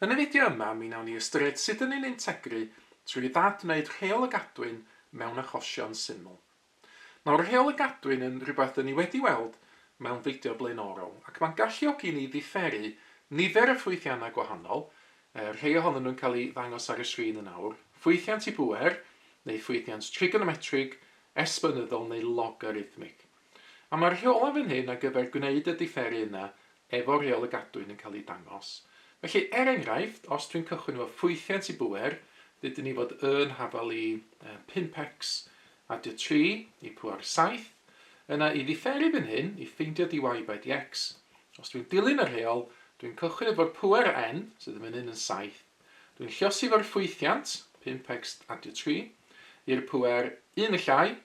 Yn y fideo yma mi wnawn ni ystyried sut yn ni'n integru trwy ddad wneud rheol y gadwyn mewn achosion syml. Mae'r rheol y gadwyn yn rhywbeth dŷn ni wedi weld mewn fideo blaenorol ac mae'n galluogi ni ddifferu nifer y ffwythiannau gwahanol, rhei ohonyn nhw'n cael eu ddangos ar y sgrin yn awr, ffwythiant i bŵer neu ffwythiant trigonometrig, esbonyddol neu logarithmig. A mae'r rheolau fan hyn ar gyfer gwneud y diferu yna efo Rheol y Gadwyn yn cael eu dangos. Felly, er enghraifft, os dwi'n cychwyn efo ffwythiant i bŵer, dydyn ni fod yn hafal i 5x, adio 3 i pŵer 7, yna i ddiferu fan hyn i ffeindio dy y by dy x, os dwi'n dilyn y rheol, dwi'n cychwyn efo'r pŵer n, sydd yn fan hyn yn 7, dwi'n llosi fo'r ffwythiant, 5x adio 3, i'r pŵer 1 y llai,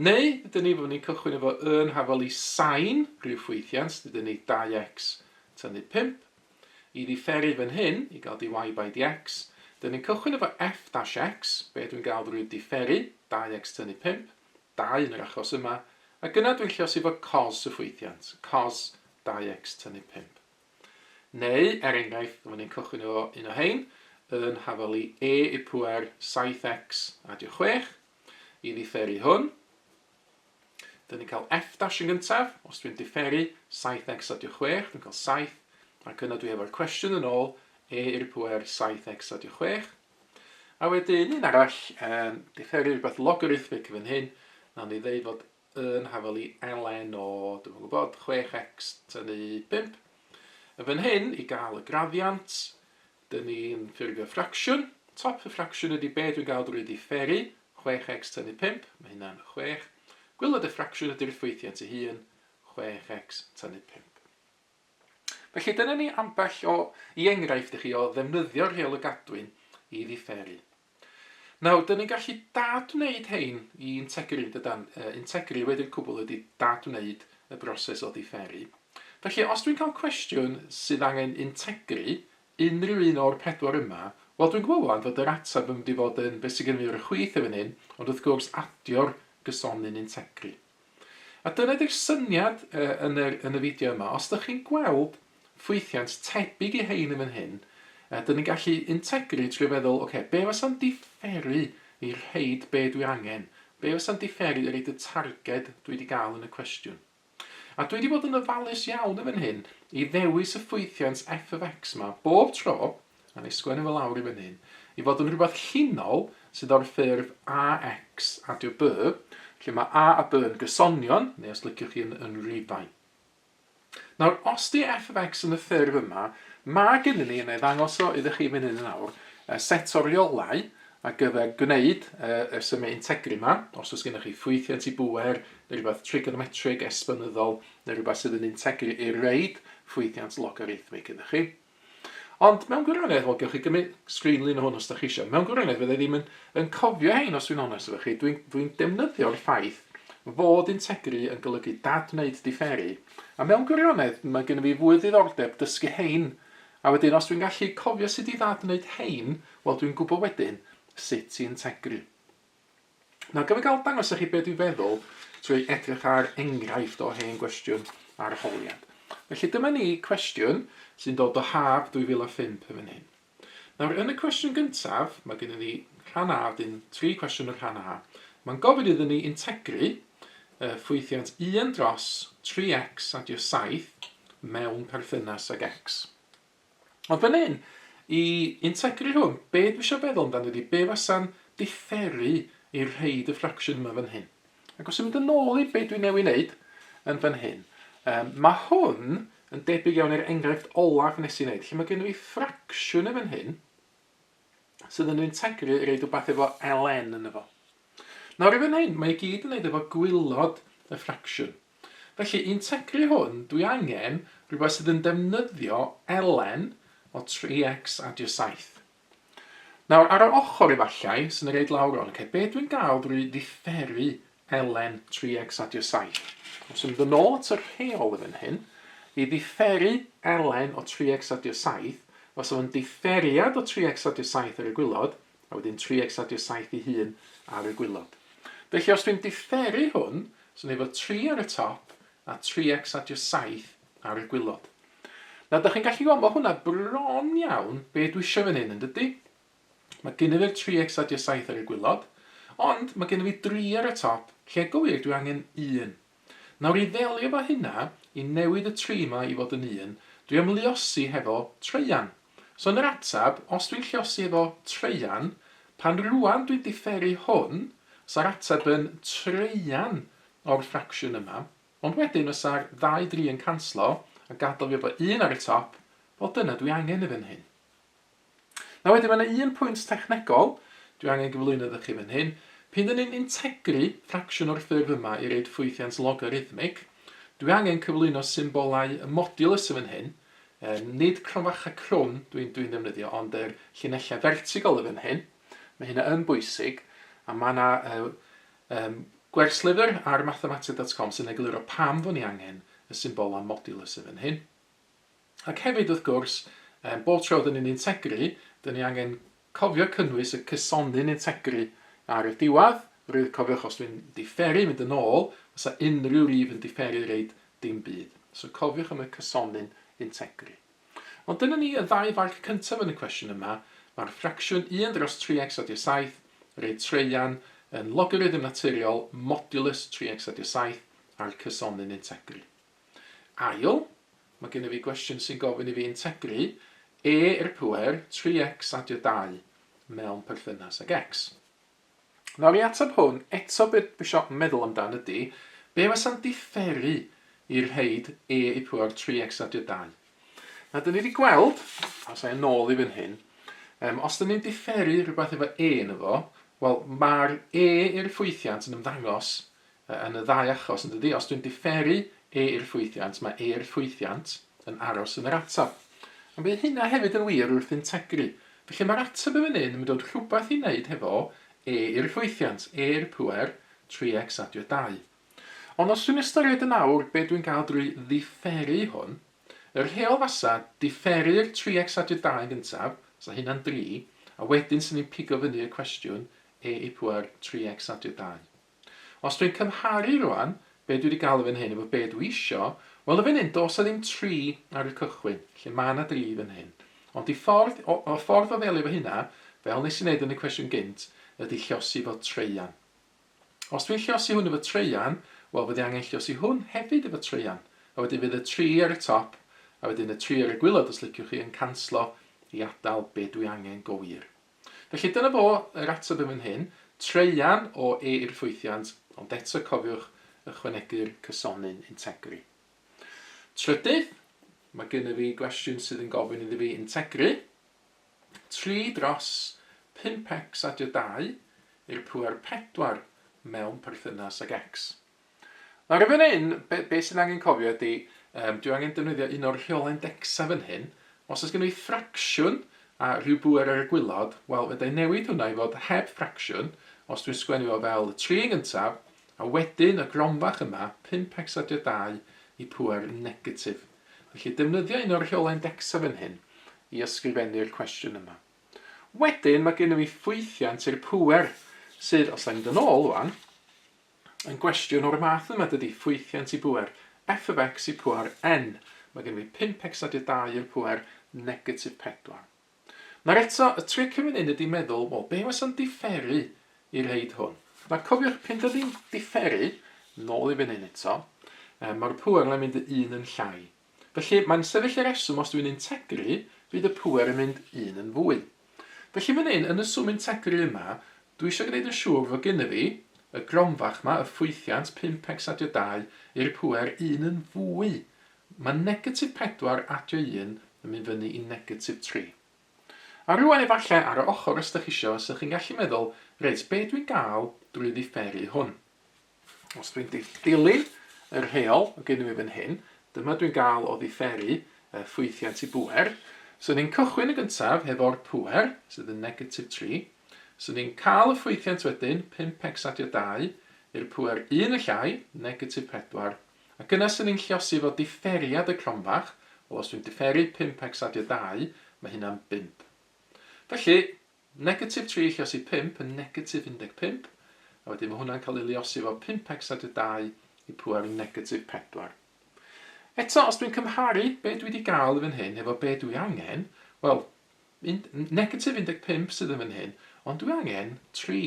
Neu ydyn ni, fyddwn ni'n cychwyn efo y yn hafal i sain rhyw ffwythiant, dydyn ni 2x tynnu 5. I ddiferu fan hyn, i gael dy y by dx, dyn ni'n cychwyn efo f dash x, be dwi'n gael drwy diferu, 2x tynnu 5, 2 yn yr achos yma, ac yna dwi'n lleosi efo cos y ffwythiant, cos 2x tynnu 5. Neu, er enghraifft, fyddwn ni'n cychwyn efo un o hein, yn hafal i e i pŵer 7x adio 6, i ddifferu hwn. Dyn ni'n cael f' dash yn gyntaf, os dwi'n differu 7x a 26, dwi'n cael 7, ac yna dwi efo'r cwestiwn yn ôl, e i'r pwer 7x a 26. A wedyn un arall, um, differu rhywbeth logarithmic fan hyn, na ni ddeud fod yn hafel i ln o, dwi'n gwybod, 6x tynnu 5. Yn fan hyn, i gael y graddiant, Dyn ni'n ffurfio ffracsiwn. Top y ffracsiwn ydy be dwi'n gael drwy diferu, 6x tynnu 5, mae hynna'n 6. Gwylod y ffracsiwn ydy'r ffwythiant ei hun, 6x tynnu 5. Felly dyna ni ambell o i enghraifft i chi o ddefnyddio'r rheol y gadwyn i ddiferu. Nawr, 'dyn ni'n gallu dad-wneud hein i integri, dydan? Yy, integri wedi'r cwbl ydi dad-wneud y broses o ddifferi. Felly, os dwi'n cael cwestiwn sydd angen integri, unrhyw un o'r pedwar yma, wel, dwi'n gwybod ŵan fod yr ateb yn mynd i fod yn be' sy gynno fi ar y chwith yn fan hyn, ond wrth gwrs, adio'r gysonyn integri. A dyna di'r syniad yn yr yn y fideo yma. Os dych chi'n gweld ffwythiant tebyg i hein yn fan hyn, uh, dyn ni'n gallu integru trwy feddwl, oce, okay, be fasa'n diferu i rhaid be dwi angen? Be fasa'n diferu i reid y targed dwi wedi gael yn y cwestiwn? A dwi wedi bod yn ofalus iawn yn fan hyn i ddewis y ffwythiant f of x ma bob tro a wna i sgwennu fo lawr i fyny'n i fod yn rhywbeth llinol sydd o'r ffurf AX adio B, lle mae A a B yn gysonion, neu os liciwch chi yn, yn rifau. Nawr, os di f of x yn y ffurf yma, mae gennym ni, yn ei ddangos o iddo chi fyny yn awr, set o riolau a gyfer gwneud y symau integri yma, os oes gennych chi ffwythiant i bwer neu rhywbeth trigonometrig, esbonyddol, neu rhywbeth sydd yn integri i'r reid, ffwythiant logarithmig gyda chi. Ond mewn gwirionedd, wel, gewch chi gymryd sgrinlun o hwn os da chi eisiau. Mewn gwirionedd, fydda i ddim yn, yn cofio hein os dwi'n onest efo chi. Dwi'n dwi defnyddio'r ffaith fod integri yn golygu dad wneud diferu. A mewn gwirionedd, mae gen i fi fwy ddiddordeb dysgu hein. A wedyn, os dwi'n gallu cofio sut i dad wneud hein, wel, dwi'n gwybod wedyn sut i integri. Nawr, gaf i gael dangos i chi beth dwi'n feddwl trwy edrych ar enghraifft o hen gwestiwn arholiad. Felly dyma ni cwestiwn sy'n dod o haf 2005 yn fan hyn. Nawr, yn y cwestiwn gyntaf, mae gennym ni rhan A, wedyn tri cwestiwn yn rhan A. Mae'n gofyn iddyn ni integru uh, ffwythiant 1 dros 3x adio 7 mewn perthynas ag x. Ond fan hyn, i integru hwn, be dwi eisiau feddwl amdano ydi be fasa'n diferu i rhoid y fraction yma fan hyn. Ac os yn mynd yn ôl i be dwi newydd wneud yn fan hyn, um, mae hwn yn debyg iawn i'r enghraifft olaf nes i wneud, lle mae gennym ni ffracsiwn yn fan hyn, sydd yn integru i reid rhywbeth efo ln yn efo. Nawr i fan hyn, mae i gyd yn neud efo gwylod y ffracsiwn. Felly, i'n teclu hwn, dwi angen rhywbeth sydd yn defnyddio elen o 3x adio 7. Nawr, ar yr ochr efallai, sy'n yr eid lawr o'n, okay, be dwi'n gael drwy ddifferi elen 3x adio 7? Os yn dod nôl at y rheol yn fan hyn, i ddifferi elen o 3x adio 7, os o'n differiad o 3x adio 7 ar y gwylod, A wedyn trio ecsadio saith i hun ar y gwilod. Felly os dwi'n diferu hwn, so ni efo tri ar y top a tri ecsadio saith ar y gwilod. Nawr da chi'n gallu gweld ma hwnna bron iawn be dwi isio fan hyn yn dydi? Mae gynnyf i'r tri ecsadio saith ar y gwilod, ond mae gynnyf i dri ar y top, lle go wir dwi angen un. Nawr i ddelio efo hynna, i newid y tri 'ma i fod yn un, dwi am luosi hefo traean. So yn yr atab, os dwi'n lluosi efo traean, pan rŵan dwi'n diferu hwn, sa'r atab yn traean o'r ffracsiwn yma, ond wedyn fysa'r ddau dri yn canslo a gadal fi efo un ar y top, wel dyna dwi angen yn fan hyn. Nawr wedyn, mae yna un pwynt technegol dwi angen gyflwyno iddo chi fan hyn. Pan dyn ni'n integru ffracsiwn o'r ffurf yma i roid ffwythiant logarithmig, dwi angen cyflwyno symbolau y modulus yn fan hyn, um, nid cronfachau crwn dwi'n dwi ddefnyddio, ond yr llinellau fertigol yn fan hyn. Mae hynna yn bwysig, a mae yna uh, um, gwerslyfr ar mathematica.com sy'n egluro pam fod ni angen y symbolau modulus yn fan hyn. Ac hefyd, wrth gwrs, yym, bob tro dan ni'n integru, dan ni angen cofio cynnwys y cysonyn integru ar y diwedd, rwydd, cofiwch, os dwi'n diferu, mynd yn ôl, fysa unrhyw rif yn diferu reid dim byd. So cofiwch am y cysonyn integru. Ond dyna ni y ddau farc cyntaf yn y cwestiwn yma, mae'r ffracsiwn 1 dros 3x adio 7, reid traean, yn logarithym naturiol modulus 3x adio 7 a'r cysonyn integru. Ail, mae gennyf fi gwestiwn sy'n gofyn i fi integru e i'r pŵer 3x adio 2 mewn perthynas ag x. Nawr, i ateb hwn, eto be dwi isio meddwl amdan ydy, be fasa'n diferu i rhaid e i pŵer 3x adio 2? Nawr, dyn ni wedi gweld, os a'i yn ôl i fan hyn, um, os dyn ni'n diferu rhywbeth efo e yn efo, wel, mae'r e i'r ffwythiant yn ymddangos yn y ddau achos, yn dydi? Os dwi'n diferu e i'r ffwythiant, mae e'r ffwythiant yn aros yn yr ateb. Ond bydd hynna hefyd yn wir wrth integru. Felly mae'r ateb yn fan hyn yn mynd o'r rhywbeth i wneud hefo e i'r ffwythiant, e i'r pŵer 3x adio 2. Ond os dwi'n ystyried yn awr be dwi'n gael drwy ddiferu hwn, y rheol fasa diferu'r 3x adio 2 yn gyntaf, sa hynna'n 3, a wedyn sy'n ni'n pigo fyny y cwestiwn e i pŵer 3x adio 2. Os dwi'n cymharu rwan be dwi di galw fan hyn efo be dwi isio, wel yn fan hyn do's 'na ddim tri ar y cychwyn, lle ma' 'na dri fan hyn. Ond y ffordd o y ffordd o ddelio efo hynna, fel nes i neud yn y cwestiwn gynt, ydi llosi fo traean. Os dwi'n llosi hwn efo traean, wel fyddi angen llosi hwn hefyd efo traean, a wedyn fydd y tri ar y top, a wedyn y tri ar y gwilod os liciwch chi, yn canslo i adal be dwi angen go wir. Felly dyna fo yr ateb yn fan hyn. Traean o E i'r ffwythiant, ond eto cofiwch ychwanegu'r cysonyn integri. Trydydd, mae gennyf fi gwestiwn sydd yn gofyn iddi fi integri 3 dros 5x adio 2 i'r pŵer 4 mewn perthynas ag x. Nawr yn fan hyn, be, be sy'n angen cofio ydy, um, dwi angen defnyddio un o'r rheolau indexa fan hyn. Os oes gennym ni ffracsiwn a rhyw bwer ar y gwylod, wel, fe da i newid hwnna i fod heb ffracsiwn, os dwi'n sgwennu fo fel 3 yn gyntaf, a wedyn y gronfach yma, 5x adio 2 i pwer negatif. Felly defnyddio un o'r rheolau indexa fan hyn i ysgrifennu'r cwestiwn yma. Wedyn mae gennym ni ffwythiant i'r pwer sydd, os da ni'n dod ôl wan, Un gwestiwn o'r math yma dydy, ffwythiant i bŵer, F of X i pŵer N. Mae gennym ni 5X a dy 2 i'r pŵer negatif 4. Nawr eto, y tric yn fan hyn ydy meddwl, wel, be wasa'n diferu i reid hwn? Nawr cofiwch, pyn dydy'n diferu, nôl i fan hyn eto, mae'r pŵer yna'n mynd y un yn llai. Felly, mae'n sefyll y reswm os dwi'n integru, bydd y pŵer yn mynd un yn fwy. Felly fan hyn, yn y swm integru yma, dwi eisiau gwneud yn siŵr fod gynna fi, y gronfach yma, y ffwythiant 5x adio 2, i'r pŵer un yn fwy. Mae negatif 4 adio 1 yn mynd fyny i negatif 3. A rŵan efallai ar y ochr os dych chi eisiau, 'sych chi'n gallu meddwl, reit, be dwi'n gael drwy ddifferi hwn? Os dwi'n dilyn y rheol o gyn i fi fan hyn, dyma dwi'n gael o ddiferu y ffwythiant i bŵer. So ni'n cychwyn yn gyntaf hefo'r pŵer, sydd yn negatif 3. So ni'n cael y ffwythiant wedyn, 5x adio 2, i'r pŵer 1 y llai, negatif 4. Ac yna so ni'n lliosi fo diferiad y cronfach, wel os dwi'n diferu 5x adio 2, mae hynna'n 5. Felly, Negatif 3 yn lliosi 5 yn negatif 15, a wedyn mae hwnna'n cael ei liosi efo 5x a dy 2 i pŵer yn negatif 4. Eto, os dwi'n cymharu be dwi wedi gael yn fan hyn hefo be dwi angen, wel, negatif 15 sydd yn fan hyn, ond dwi angen 3.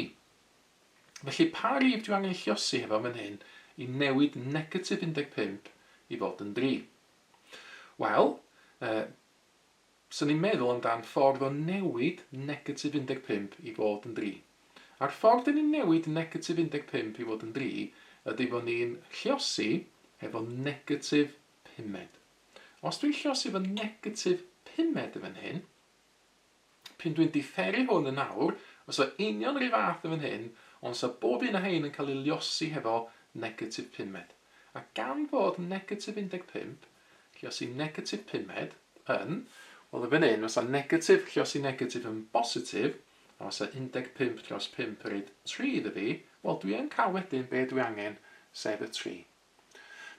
Felly, pa rif dwi angen ei lliosi hefo fan hyn i newid negatif 15 i fod yn 3? Wel, uh, Byswn i'n meddwl amdan ffordd o newid negatif 15 i fod yn dri. A'r ffordd dyn ni'n newid negatif 15 i fod yn dri ydy fo' ni'n lliosi hefo negatif pumed. Os dwi'n lliosi efo negatif pumed yn fan hyn, p'un dwi'n diferu hwn yn awr, os o union yr un fath yn fan hyn, ond sa bob un o hein yn cael ei liosi hefo negatif pumed. A gan fod negatif 15 Lluosi negatif pumed, yn, wel yn fan hyn fasa negatif lluosi negatif yn bositif, a fasa undeg pump dros pump yn rhaid tri iddo fi, wel dwi yn cael wedyn be dwi angen, sef y tri.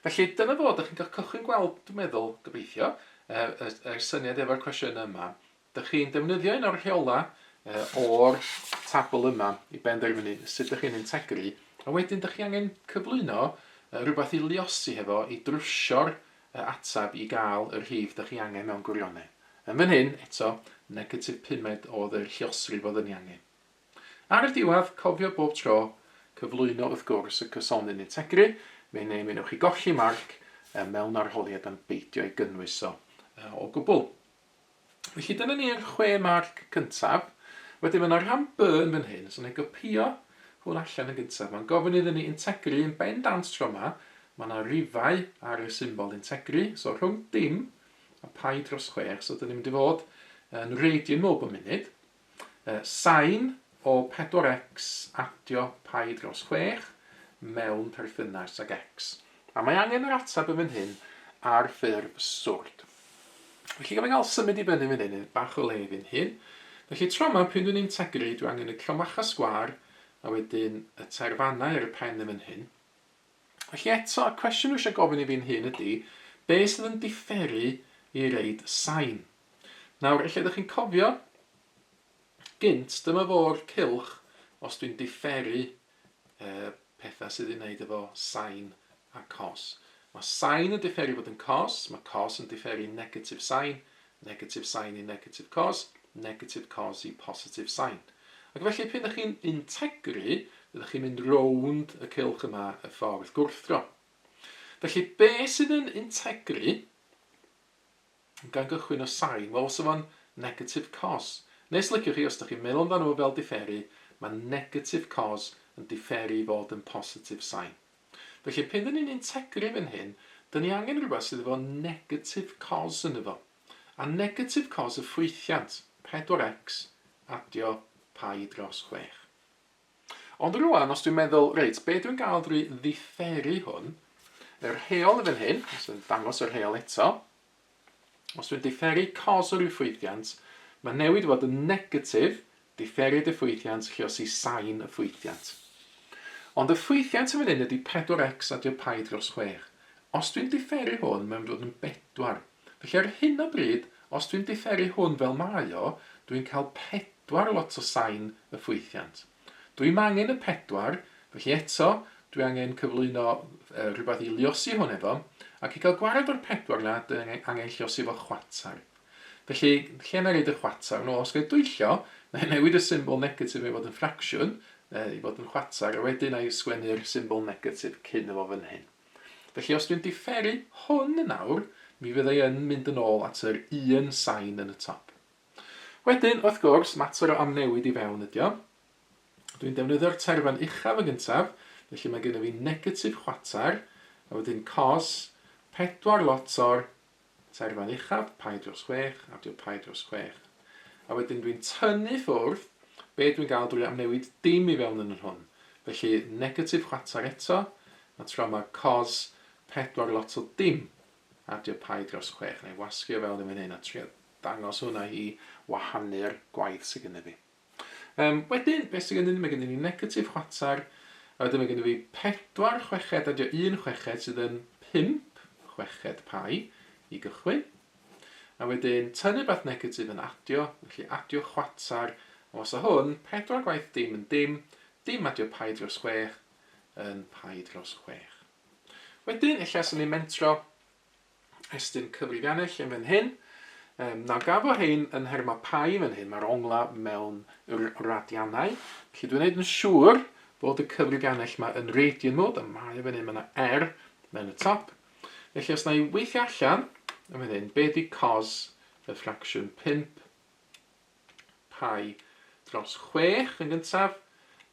Felly dyna fo, dych chi'n cael cychwyn gweld, dwi'n meddwl, gobeithio, y, y, y syniad efo'r cwestiynau yma, Dych chi'n defnyddio un o'r rheolau o'r tabl yma i benderfynu sut dych chi'n integri, a wedyn dych chi angen cyflwyno rhywbeth i luosi hefo i drwsio'r ateb i gael y rhif dych chi angen mewn gwirionedd. Yn fan hyn, eto, negatif pumed oedd y lluosrif oedd yn ei angen. Ar y diwedd, cofio bob tro, cyflwyno wrth gwrs y cysonyn integri, fe neu mi wnewch chi golli marc mewn arholiad am beidio ei gynnwys o gwbl. Felly dyna ni'r chwe marc cyntaf. Wedyn mae yna rhan by yn fan hyn, so wna i gopïo hwn allan yn gyntaf. Mae'n gofyn iddyn ni integru yn bendant tro yma. Mae yna rifau ar y symbol integru, so rhwng dim a pi dros chwech, so dyn ni'n mynd i fod yn radian mowb y munud. Y sain o pedwar X adio pi dros chwech mewn perthynas ag X. A mae angen yr ateb yn fan hyn ar ffurf swrd. Felly gaf i gael symud i fyny fan hyn, bach o le i fyn hyn. Felly tro yma, pryd dwi'n integru, dwi angen y cromacha sgwar a wedyn y terfannau ar y pen yn fan hyn. Felly eto, y cwestiwn dwi eisiau gofyn i fi'n hun ydy, be sydd yn differu i reid sain? Nawr, ella ydych chi'n cofio, gynt, dyma fo'r cylch os dwi'n diferu uh, pethau sydd ei wneud efo sain a cos. Mae sain yn diferu fod yn cos, mae cos yn diferu negatif sain, negatif sain i negatif cos, negatif cos i positif sain. Ac felly, pan ydych chi'n integru, ydych chi'n mynd rownd y cylch yma y ffordd gwrthdro. Felly, be sydd yn integru? Gan gychwyn o sain, wel os yw o'n negatif cos, neu os liciwch chi, os dych chi'n meddwl amdano fo fel diferu, mae negatif cos yn diferu i fod yn positif sain. Felly pan dyn ni'n integru fan hyn, dyn ni angen rhywbeth sydd efo negatif cos ynddo fo. A negatif cos y ffwythiant, 4x, adio pi dros chwech. Ond rŵan, os dwi'n meddwl, reit, be dwi'n gael drwy ddifferu hwn, yr heol yn fan hyn, os dwi'n dangos yr heol eto, os dwi'n differu cos o ryw ffwythiant, mae newid fod yn negatif, differu diffwythiant, chios i sain y ffwythiant. Ond y ffwythiant yn fan hyn ydy 4x a dio pi dros 6. Os dwi'n differu hwn, mae'n mynd fod yn 4 Felly ar hyn o bryd, os dwi'n diferu hwn fel mae o, dwi'n cael pedwar lot o sain y ffwythiant. Dwi'm angen y pedwar, felly eto, dwi angen cyflwyno rhywbeth i liosi hwn efo, ac i gael gwared o'r pedwar yna, dwi angen lliosi fo chwatar. Felly, lle na i roed y chwatar? Nôl, os gael dwyllio, na i newid y symbol negatif i fod yn ffracsiwn, i fod yn chwatar, a wedyn na i sgwennu'r symbol negatif cyn efo fan hyn. Felly os dwi'n diferu hwn yn awr, mi fydda i yn mynd yn ôl at yr un sain yn y top. Wedyn, wrth gwrs, mater o amnewid i fewn ydi o. Dwi'n defnyddio'r terfan uchaf yn gyntaf, felly mae gennyf fi negatif chwater, a wedyn cos pedwar lot o'r Tair fan uchaf, paid dros chwech, adio paid dros chwech. A wedyn dwi'n tynnu ffwrdd, be dwi'n gael drwy amnewid dim i fewn yn yr hwn. Felly negatif chwatar eto, a tro ma cos pedwar lot o dim, adio paid dros chwech. Wna i wasgu o fewn yn fan hyn a trio dangos hwnna i wahanu'r gwaith sy gynna fi. Yym, wedyn, beth sydd gennym ni? Mae gennym ni negatif chwater, a wedyn mae gennym ni pedwar chweched, a dio un chweched sydd yn pump chweched pai i gychwyn. A wedyn, tynnu beth negatif yn adio, felly adio chwater, a os o hwn, pedwar gwaith dim yn dim, dim adio pai dros chwech yn pai dros chwech. Wedyn, ella sy'n ni'n mentro, estyn cyfrifiannell yn fan hyn. Um, nawr gafo hyn yn her mae pai fan hyn, mae'r ongla mewn radianau. Felly dwi'n gwneud yn siŵr bod y cyfrifiannell mae yn radian mod, a mae fan hyn, mae yna er mewn y top. Felly os na i weithio allan, yn fan hyn, be di cos y ffracsiwn 5 Pi dros chwech yn gyntaf,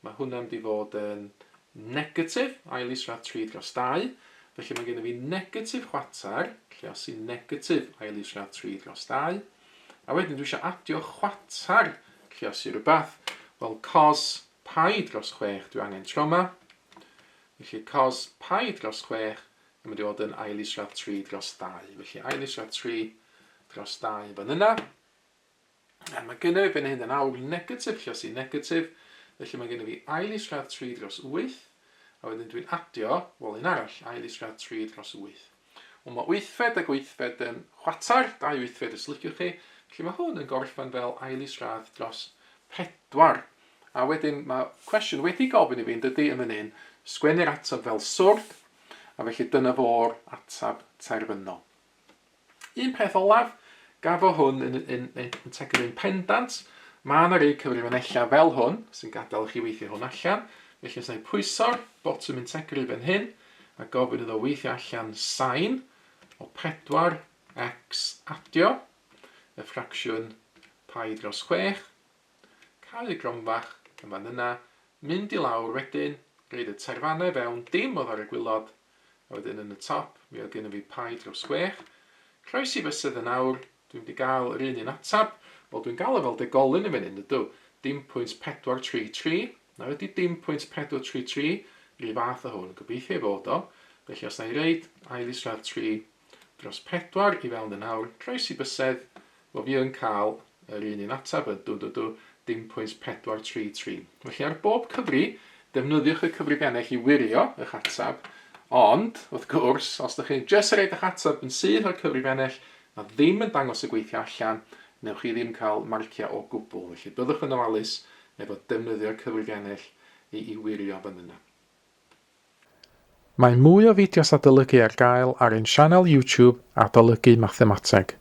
mae hwnna'n mynd i fod yn negatif, ail isradd tri dros dau, felly mae gennym fi negatif chwater, lle os sy'n negatif ail isradd tri dros dau, a wedyn dwi eisiau adio chwater, lle os i rhywbeth, wel cos pi dros chwech dwi angen troma, felly cos pi dros chwech yn mynd i fod yn ail isradd tri dros dau, felly ail isradd tri dros dau fan yna, A mae gennyf i fan hyn yn awl negatif lle os i negatif, felly mae gennyf i ail isradd 3 dros 8, a wedyn dwi'n adio, wel un arall, ail isradd 3 dros 8. Wel mae wythfed ag wythfed yn chwatar, dau wythfed os liciwch chi, felly mae hwn yn gorffen fel ail isradd dros 4. A wedyn mae cwestiwn wedi gofyn i fi yn dydy yn fan hyn, sgwennu'r ateb fel swrdd, a felly dyna fo'r ateb terfynol. Un peth olaf, gafo hwn yn, yn, yn, yn tecyn yn pendant, mae yna rei cyfrifanellau fel hwn sy'n gadael i chi weithio hwn allan, felly os na i pwyso'r botwm yn tecyn fan hyn a gofyn iddo weithio allan sain o 4x adio y ffracsiwn pai dros 6, Cau y gronfa fach yma'n yna, mynd i lawr wedyn, roid y tairfanna i fewn, dim oddo ar y gwilod, a wedyn yn y top, mi oedd gynno fi pie dros chwech. Croesi fysedd yn awr, dwi'm di gael yr un un atab. Wel dwi'n gael o fel degolyn yn fenyn ydw, dim pwynt pedwar tri tri, na ydi dim pwynt pedwar tri tri, rhyw fath o hwn, gobeithio ei fod o, felly os na i reid ail isradd tri, Dros pedwar i fewn yn awr, croesi bysedd, wel fi yn cael yr un un ateb, y dw dw dw, dim pwynt pedwar tri tri. Felly ar bob cyfri, defnyddiwch y cyfrif ennill i wirio eich ateb, ond, wrth gwrs, os ydych chi'n jyst rhaid eich ateb yn syth o'r cyfrif ennill a ddim yn dangos y gweithio allan, newch chi ddim cael marciau o gwbl, felly byddwch yn ofalus efo defnyddio'r cyfrif ennill i i wirio fan yna. Mae mwy o fideos adolygu ar gael ar ein sianel YouTube Adolygu Mathemateg.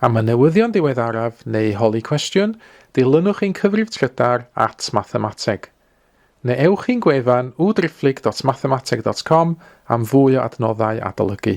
Am y newyddion diweddaraf neu holi cwestiwn, dilynwch ein cyfrif trydar at Mathemateg. Neu ewch i'n gwefan www.driphlyg.mathemateg.com am fwy o adnoddau adolygu.